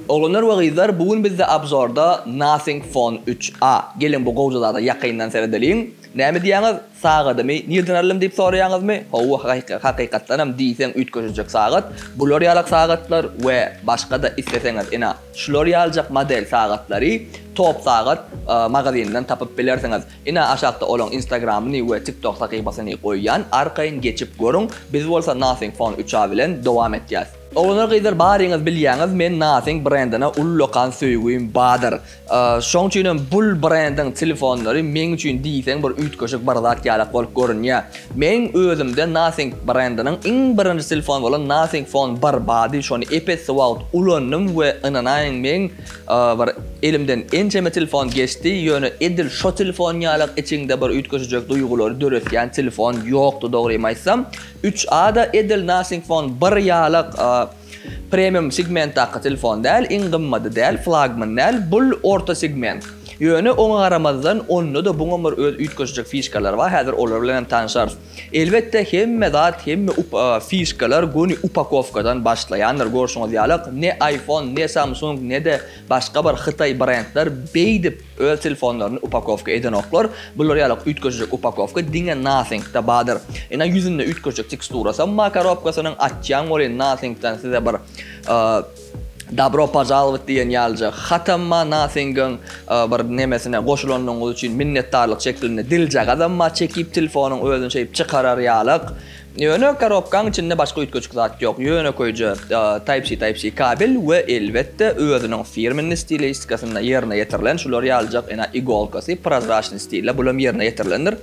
Oglanlar we gyzlar bu gün bizde abzorda Nothing Phone üç a. Geliň bu gowja zada ýakyndan seredeliň. Näme diýýäňiz? Sagadymy nirden aldym diýip soraýaňyzmy? Hawa hakykatdanam diýseň üýtgeşijek sagat, bular ýalak sagatlar we başgada isleseňiz ina şular ýaljak model sagatlary Top sagat magazynyndan tapyp bilersiňiz. Ina aşakda olaň instagramyny we tiktok sahypasyny goýýan arkaýyn geçip görüň. Biz bolsa Nothing Phone üç a bilen dowam etýäs. Oglanlar gyzlar baryňyz bilýäňiz men nothing brendine ullakan söýgim badyr şoň üçinem bul brendiň telefonlary meň üçin diýseň bir üýtgeşik bir zat ýalak bolup görünýä meň özümde nothing brendiniň iň birinji telefon bolan nothing phone bar bady şony epes wagt ulandym we ynanaýyň meň bir elimden ençeme telefon geçdi ýöne edil şo telefon ýalak içiňde bir üýtgeşijek duýgulary döretýän telefon ýokdy dogrymy aýtsam Üç A-da edil Nothing Phone bir ýalak premium segmentdaky telefon däl, iň gymmady däl, flagman däl, bul orta segment. Ýöne oňa garamazdan onda-da buňa bir öz üýtgeşijek fişkalary bar, häzir olar bilen hem tanşarys. Elbetde hemme zat, hemme fişkalar göni upakowkadan başlaýandyr, görşüňiz ýalak ne iPhone, ne Samsung, ne-de başga bir hytaý brendler beýdip, Öz telefonlaryny upakowka edenoklar, bular ýalak üýtgeşijek upakowka diňe Nothing-da badyr. Ina ýüzünde üýtgeşijek teksturasam bar korobkasynyň, açýaň welin Nothing-dan size bir Dabro požalowat diýen ýalyja hatam bar Nothing-iň bir nemesine goşulanyňyz üçin minnetdarlyk şeklinde diljagazam bar çekip telefonyň özüni şeýdip çykarar ýalak. Ýöne korobkaň içinde başga üýtgeşik zat ýok, ýönekeýje Type-C, Type-C kabel we elbetde özüniň firmenli stilistikasyna ýerine ýetirilen şular ýalyjak ene igolkasy, prozraçnyý stilde bulam ýerine ýetirilendir.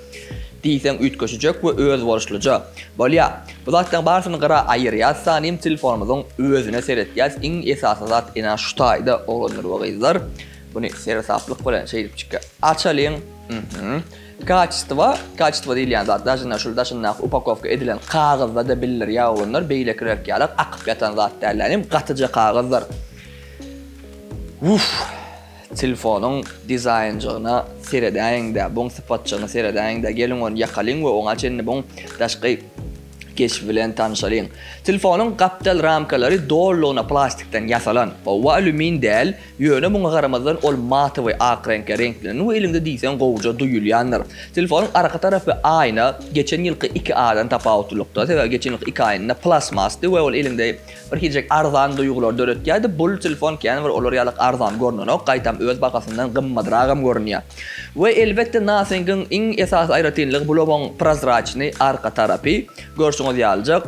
Diýseň üýtgeşijek we özboluşlyja. Bolýa, bu zatlaryň barysyny gyra aýyrýas sanym telefonymyzyň özüne seretýäs iň esasy zat ene şu taýda oglanlar we gyzlar. Buny seresaplyk bilen şeýdipjik açalyň. Mhmm. Kaçestwo, kaçestwo diýilýän zat daşynda şul daşyndaky upakowka edilen kagyzda-da bildir ýaogundyr, beýlekirek ýalar akyp ýatan zat däl länim, gatyja kagyzdyr. Uff! Telfonyň dizaýnjygyna seredäýiň-dä, buň sypatjygyna seredäýiň-dä, geliň ony ýakalyň we oňa çenli buň daşky keşbi bilen tanyşalyň. Telfonyň gapdal ramkalary dolulygyna plastikden ýasalan, howwa alýumin däl, Ýöne muňa garamazdan ol matowy ak reňke reňklendi we eliňde diýseň gowuja duýulýandyr. Telefonyň arka tarapy aýna geçen ýylky iki A-dan tapawutlylykda, sebäbi geçen ýylky iki aýna plasmasdy we ol eliňde bir hiljek arzan duýgulary döretýärdi, bu telefon kän bir olar ýalyk arzan görnenok, gaýtam öz bahasyndan gymmadragam görünýär. We elbetde Nothing-iň iň esasy aýratynlygy bu lobaň prozraçnyý arka tarapy. Görşüňiz ýalyjak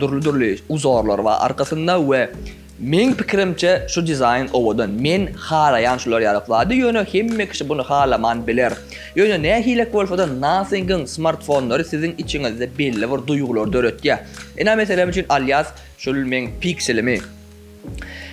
dürli-dürli uzorlar bar arkasynda we. Meň pikirimçe şu dizaýn owadan. Men halaýan şular ýalak zady, ýöne hemme kişi buny halaman biler. Ýöne nähilek bolsada Nothing-yň smartfonlary siziň içiňizde belli bir duýgulary döretýär. Ina meselem üçin alýas şul meň pikselimi.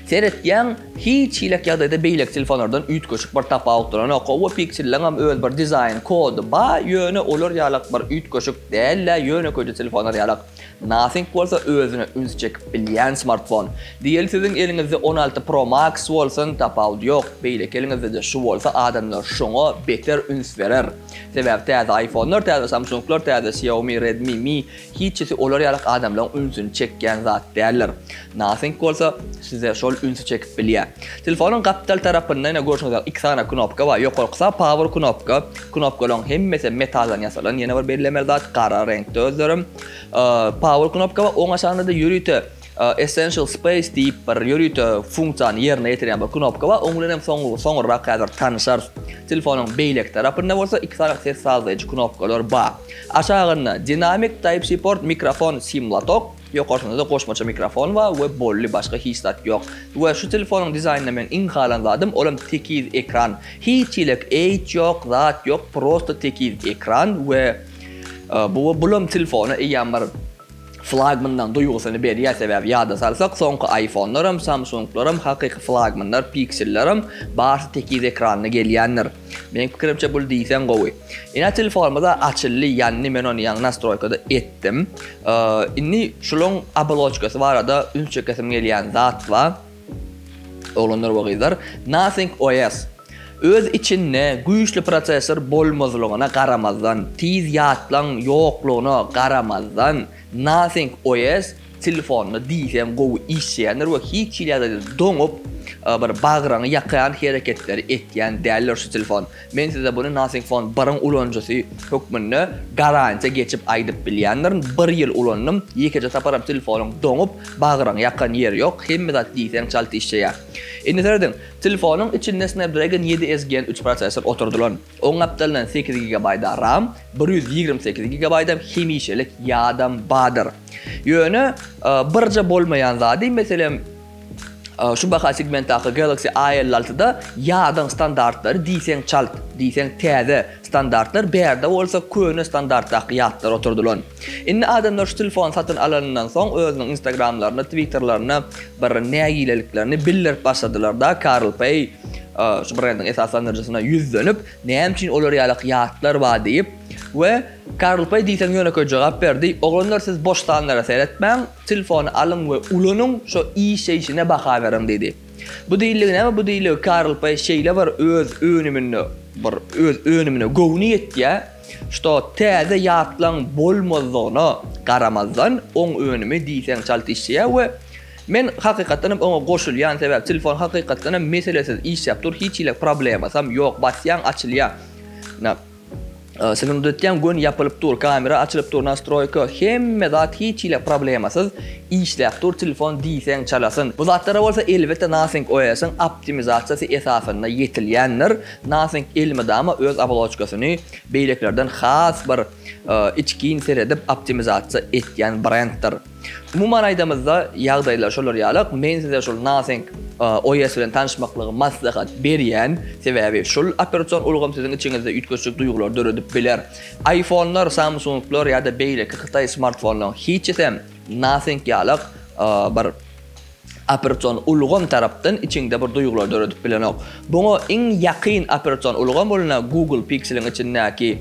Seretýäň hiç hilek ýagdaýda beýleki telefonlardan üýtgeşik bir tapawutlananok. Howwa pikselleňem öz bir dizaýn kody ba, ýöne olar ýalak bir üýtgeşik dällä ýönekeýje telefonlar ýalak. Nothing bolsa özüne üns çekip bilýän smartfon. Diýeli siziň eliňizde on alty pro max bolsun tapawudy ýok, beýleki eliňizdede şu bolsa adamlar şoňa beter üns berer. Sebäbi täze ayfonlar, täze samsunglar, täze xiaomi, redmi, mi hiçisi olar ýalak adamlaryň ünsüni çekýän zat däldir. Nothing bolsa size şol ünsi çekip bilýär. Telefonyň gapdal tarapynda ýene görşüňiz ýaly iki sany knopka bar. Ýokarkysy power knopka. Knopkalaryň hemmesi metaldan ýasalan. Ýene bir bellemeli zat gara reňkde özlerem. Power knopka bar. Oň aşagynda-da ýörite essential space diýip bir ýörite funksiýany ýerine ýetirýän bir knopka bar. Oň bilen hem soňurrak häzir tanyşarys. Telefonyň beýleki tarapynda bolsa iki sany ses sazlaýjy knopkalar bar. Aşagynda dinamik, type-c port, mikrofon, sim lotok. Ýokarsynda-da goşmaça mikrofon bar we bolly başga hiç zat ýok. We şu telefonyň dizaýnynda meň iň halan zadym olam tekiz ekran. Hiç ýelek eýt ýok, zat ýok, prosta tekiz ekran we bu we bulam telefona eýýäm bir flagmandan duýgusyny berýär sebäbi ýada salsak soňky aýfonlaram, samsunglaram hakyky flagmanlar, pikselleram barsy tekiz ekranly gelýändir. Meniň pikirimçe bul diýseň gowy. Ina telefonymyza açyldy, ýanny men ony ýaňy nastroýkada etdim. Indi şulyň aboloçkasy barada üns çekesim gelýän zat bar. Oglanlar we gyzlar, Nothing OS öz içinde güýçli prosessor bolmazlygyna garamazdan, tiz ýatlaň ýoklugyna garamazdan, Nothing OS Telefonda diýseň gowy işleýändir we hiç hili ýagdaýda doňup, bir bagryňy ýakan hereketleri etýän däldir şu telefon. Men size buny Nothing Phone bir-iň ulanyjysy hökmünde garantiýa geçip aýdyp bilýändirin. Bir ýyl ulandym, ýekeje saparam telefonyň doňup, bagryňy ýakan ýeri ýok, hemme zat diýseň çalt işleýär. Indi serediň, telefonyň içinde Snapdragon ýedi S Gen üç prosessor oturdylan. Oň gapdalyndan sekiz gigabaýt-a ram, bir ýüz ýigrimi sekiz gigabaýtam hemişelik ýadam bardyr. Ýöne birje bolmaýan zady, meselem, şu baha segmentdaky Galaxy A elli altyda ýadyň standartlary diýseň çalt, diýseň täze standartlar, bärde bolsa köne standartdaky ýatlar oturdylan. Indi adamlar şu telefony satyn alanyndan soň özüniň instagramlarynda, twitterlerinde bir nägileliklerini bildirip başladylar-da, CarlPay şu brendiň esaslandyryjysyna ýüzlenip, näme üçin olar ýaly ýatlar bar diýip, We Karlpaý diýseň ýönekeý jogap berdi, Oglanlar siz bossanlara seretmäň, telefony alyň we ulanyň, şo işeýşine baha beriň diýdi. Bu diýiligi näme bu diýiligi Karlpaý şeýle bir öz önüminde bir öz önümine göwni ýetýä, şto täze ýatlaň bolmazlygyna garamazdan oň önümi diýseň çalt işeýä we men hakykatdanam oňa goşulýan sebäp telefon hakykatdanam meselesiz işäp dur hiç hili problemasam ýok basýaň açylýa. Siziň uzetýän göni ýapylyp dur, kamera açylyp dur, nastroýka, hemme zat hiç hili problemasyz işläp dur telefon diýseň çalasyn. Bu zatlara bolsa elbetde Nothing OS-iň optimizasiýasy esasynda ýetilýändir, Nothing elmydama öz oboloçkasyny beýlekilerden has bir içgin seredip optimizasiýa etýän brenddir. Umuman aýdamyzda, ýagdaýlar şolar ýalyk. Men size şol naseňk OS bilen tanyşmaklygy maslahat berýän. Sebäbi şol operasion ulgam siziň içiňizde üýtgeşik duýgulary döredip biler. Aýfonlar, Samsunglar ýa-da beýleki hytaý smartfonlaryň hiçisem naseňk ýalyk bir Operation ulgam tarapdan içiňde bir duýgular döredip bilenok. Buňa iň ýakyn operation ulgam ol ine Google Pixel-iň içindäki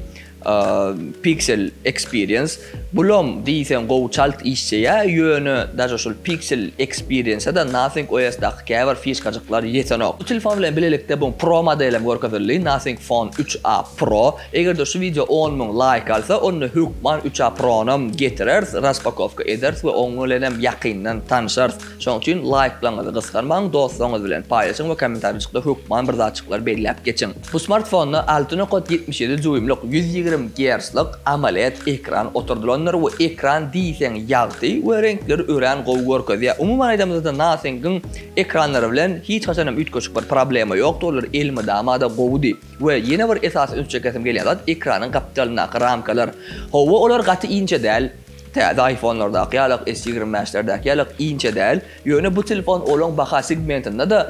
Pixel Experience. Bulam diýseň gowy çalt işjeýär, ýöne daže şol Pixel Experience-a-da Nothing OS-daky käbir fişkajyklar ýetenok. Bu telefon bilen bilelikde bu Pro model hem görkezildi, Nothing Phone 3a Pro. Egerde şu wideo on müň laýk alsa onda hökman üç a pronam getireris raspakowka ederis we oň bilenem ýakyndan tanşarys şoň üçin laýklaňyzy gysganmaň dostlaryňyz bilen paýlaşyň we kommentarijykda hökman bir zatjyklary belläp geçiň bu smartfonda alty nokat ýetmiş ýedi duýmlyk ýüz ýigrimi gerclik amoled ekran oturdylandyr we ekran diýseň ýagty we reňkleri örän gowy görkezýär umuman aýdamyzda nothing-iň ekranlary bilen hiç haçanam üýtgeşik bir problema ýokdy olar elmydamada gowudy. We ýene bir esasy üns çekesim gelýän zat ekranyň gapdalyndaky ramkalar. Hawa olar gaty inçe däl, täze aýfonlardaky ýalyk, S ýigrimi bäşlerdäki ýalyk inçe däl, ýöne bu telefon olaň baha segmentinde-de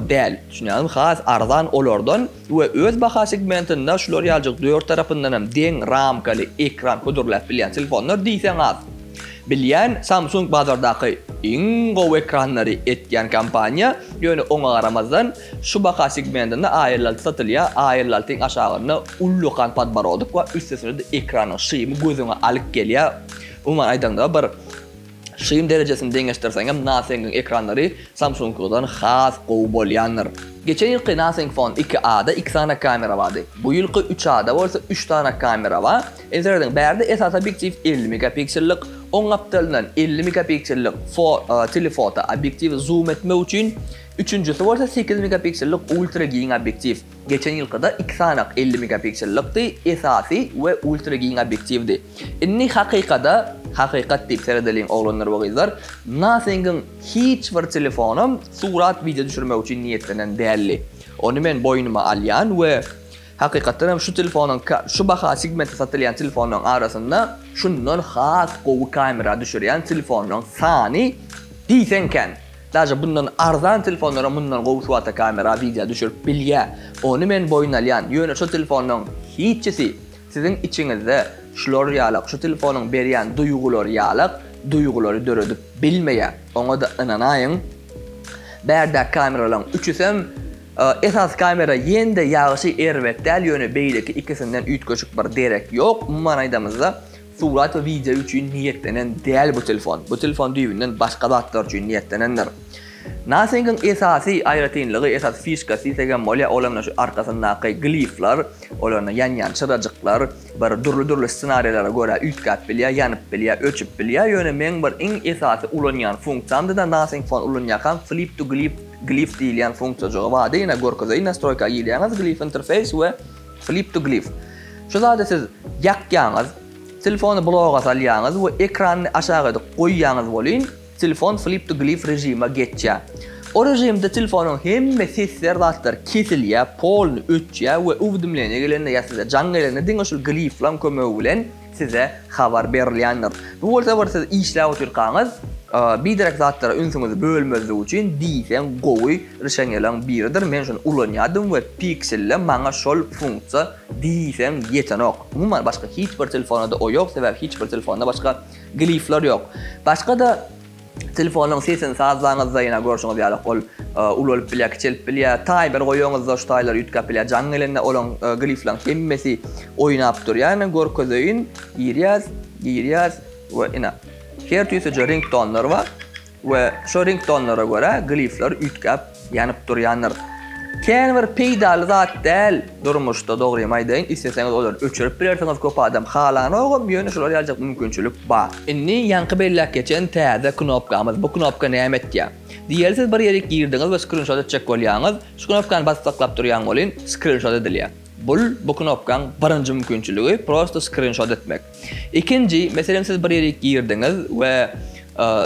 däl, düşünýäňizmi, has arzan olardan we öz baha segmentinde şular ýaljyk dört tarapyndan hem deň ramkaly ekran hödürläp bilýän telefonlar diýseň az. Bilýän Samsung bazardaky iň gowy ekranlary etýän kompaniýa, ýöne oňa garamazdan, Şu baha segmentinde aýerlalty satylýar, aýerlaltyň aşagynda ullakan podborodok bar, üstesine-de ekranyň şymy gözüňe alyk gelýär. Umuman aýdaňda bir şym derejesini deňeşdirseňem Nothing-iň ekranlary Samsung-yňkydan has gowy bolýandyr. Geçen ýylky Nothing Phone iki A-da iki sany kamera bardy. Bu ýylky üç A-da bolsa üç sany kamera bar. Entereýdiň bärde esasy obýektiw elli megapiksellik, oň gapdalyndan elli megapiksellik fo telefoto obýektiwi zoom etmek üçin, Üçünjisi bolsa sekiz megapiksellik ultra giň obýektiw. Geçen ýylkyda iki sanak elli megapiksellykdy, esasy we ultra giň obýektiwdi. Indi hakykada, hakykat diýip seredeliň oglanlar we gyzlar, Nothing-iň hiç bir telefonam surat wideo düşürmek üçin niýetlenen däldi. Ony men boýnuma alýan we hakykatdan hem şu telefonyň şu baha segmentde satylýan telefonlaryň arasynda şundan has gowy kamera düşürýän telefonlaryň sany diýseň kän. Daže bundan arzan telefonlaram mundan gowy suwata kamera wideo düşürip bilýä ony men boýun alýan ýöne şu telefonlaň hiçisi siziň içiňizde şular ýalak şu telefonyň berýän duýgulary ýalak duýgulary döredip bilmeýä oňada ynanaýyň bärde kameralaň üçüsem esasy kamera ýende ýagşy erbet däl ýöne beýleki ikisinden üýtgeşik bir derek ýok umuman aýdamyzda Surat we wideo üçin niýetlenen däl bu telefon. Bu telefon düýbünden başga zatlar üçin niýetlenendir. Nothing-iň esasy aýratynlygy, esasy fişkasy diýsegem bolýar, ol hem-de şu arkasyndaky glifler, olarynda ýanýan çyrajyklar bir dürli-dürli ssenariýlara görä üýtgäp bilýär, ýanyp bilýär, öçüp bilýär. Ýöne meň bir iň esasy ulanýan funksiýamda-da Nothing Phone ulanýarkam Flip to Glif, glif diýilýän funksiýajygy bardy, ýene görkezeýin, Nastroýka girýäňiz, Glif interfeýs we Flip to Glif. Şu zady siz ýakýaňyz, telefony bloga salýaňyz we ekranyny aşagydyk goýýaňyz welin, telefon Flip to Glif režime geçýär. O režimde telefonyň hemme sesler zatlar kesilýär, polny öçýär we uwdimleniýe gelende ýa size jaň gelende diňe şul gliflaň kömegi bilen, size habar berilýändir. Bu bolsa bir siz işläp otyrkaňyz biderek zatlara ünsüňizi bölmezlik üçin diýseň gowy rişenýalaň biridir. Men şony ulanýardym we Pixel-de maňa şol funksiýa diýseň ýetenok. Umuman başga hiç bir telefonada o ýok, sebäbi hiç bir telefonda başga glifler ýok. Başga-da Telefonyň sesini sazlaňyzda ýene görşüňiz ýaly ol ulalyp bilýär, kiçelip bilýär. Taýmer goýaňyzda şu taýlar üýtgäp bilýär. Jaň gelende olaň grifleriň hemmesi oýnap durýar. Ine görkezeýin. Girýäs, girýäs we ine her tüýsüje ringtonlar bar we şo ringtonlara görä grifler üýtgäp Ýanyp durýandyr. Kän bir peýdaly zat däl durmuşda dogrymy aýdaýyn isleseňiz olary öçürip bilersiňiz köp adam halanogam ýöne şolar ýaljak mümkinçilik bar. Indi ýaňky belläp geçen täze knopkamyz bu knopka näme etýä? Diýeli siz bir ýerik girdiňiz we skrinşot etjek bolýaňyz şu knopkany basyp saklap durýaň welin skrinşot edilýä. Bul bu knopkaň birinji mümkinçiligi prosto skrinşot etmek. Ikinji, meselem siz bir ýere girdiňiz we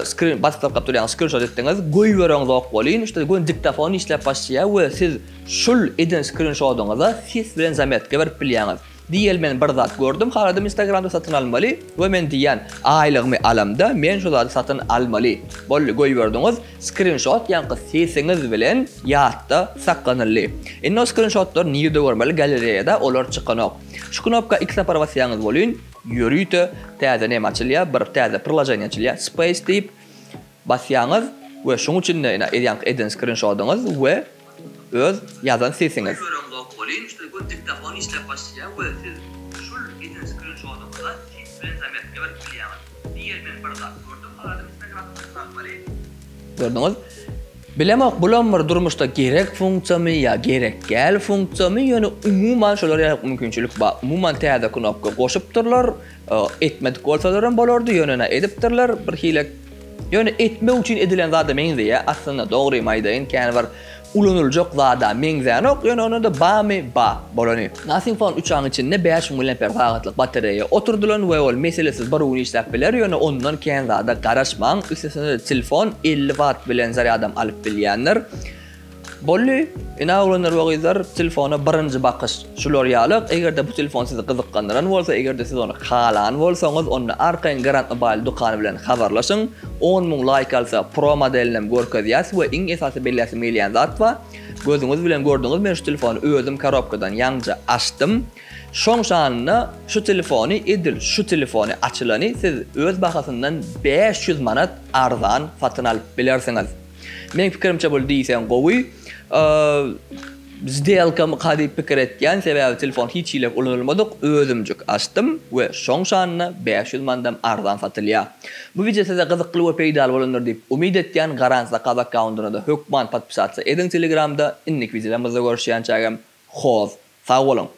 skrin baskylap gap durýan skrinşot etdiňiz, goýbereňzok welin şuda göni diktafon işläp başlaýar we siz şul eden skrinşodyňyza ses bilen zametka berip bilýäňiz. Diýeli men bir zat gördüm haladym instagramda satyn almaly we men diýýän aýlygymy alamda men şu zady satyn almaly. Boldy goýberdiňiz, skrinşot ýaňky sesiňiz bilen ýatda saklanyldy. Indi o skrinşotlary nirde görmeli galereýada olar çykanok. Şu knopka iki sapar basýaňyz bolyn ýörite täze näme açylýar bir täze priloženiýa açylýar space diýip basýaňyz we şuň içinde ina edýäňiz eden skrinşodyňyz we öz ýazan sesiňiz. Köp ýöreňzok bolyn şu gün diktafon işläp başlaýar we siz şul eden skrinşodyňyza ses bilen zamertňa berip bilýäňiz. Diýer men bir zat gördüm adyny sen ýazypsyň Akbaryň. Gördüňiz? Bilemok bulam bir durmuşda gerek funksiýamy ýa gerek däl funksiýamy ýöne umuman şolar ýa mümkinçilik bar umuman täze knopka goşupdyrlar etmedik bolsalaram bolardy ýöne ene edipdirler bir hile ýöne etmek üçin edilen zada meňzeýä aslynda dogrymy aýdaýyn kän bir Ulanyljak zada meňzänok, ýöne onda-da bamy ba, bolany. Nothing Phone uçaryň içinde bäş müň miliamper sagatlyk batareýa oturdylan we ol meselesiz bir gün işläp biler, ýöne ondan kän zada garaşmaň, üstesine-de telefon elli watt bilen zarýadam alyp bilýändir. Bolly, ine oglanlar we gyzlar, telefona birinji bakyş. Şular ýaly, eger-de bu telefon sizi gyzyklandyran bolsa, eger-de siz ony halan bolsaňyz, onda arkaýyn Garant Mobile dükany bilen habarlaşyň. On müň laýk alsa, Pro modelinem görkezýäs we iň esasy belläsim gelýän zat bar. Gözüňiz bilen gördüňiz, men şu telefony özüm karobkadan ýaňja açdym. Şoň şanyna şu telefony, edil şu telefony açylany siz öz bahasyndan bäş ýüz manat arzan satyn alyp bilersiňiz. Meň pikirimçe bul diýseň gowy. Zdelkamy ka diýip pikir etýän, sebäbi telefon hiç hile ulanylmadyk, özümjik açdym we şoň şanyna bäş ýüz mandam arzan satylýa. Bu wideo size gyzykly we peýdaly bolandyr diýip umyt etýän, Garan Zakaz akkauntynada hökman podpisatsa ediň telegramda, indiki wideolarymyzda görüşýänçägem hoz, sag boluň!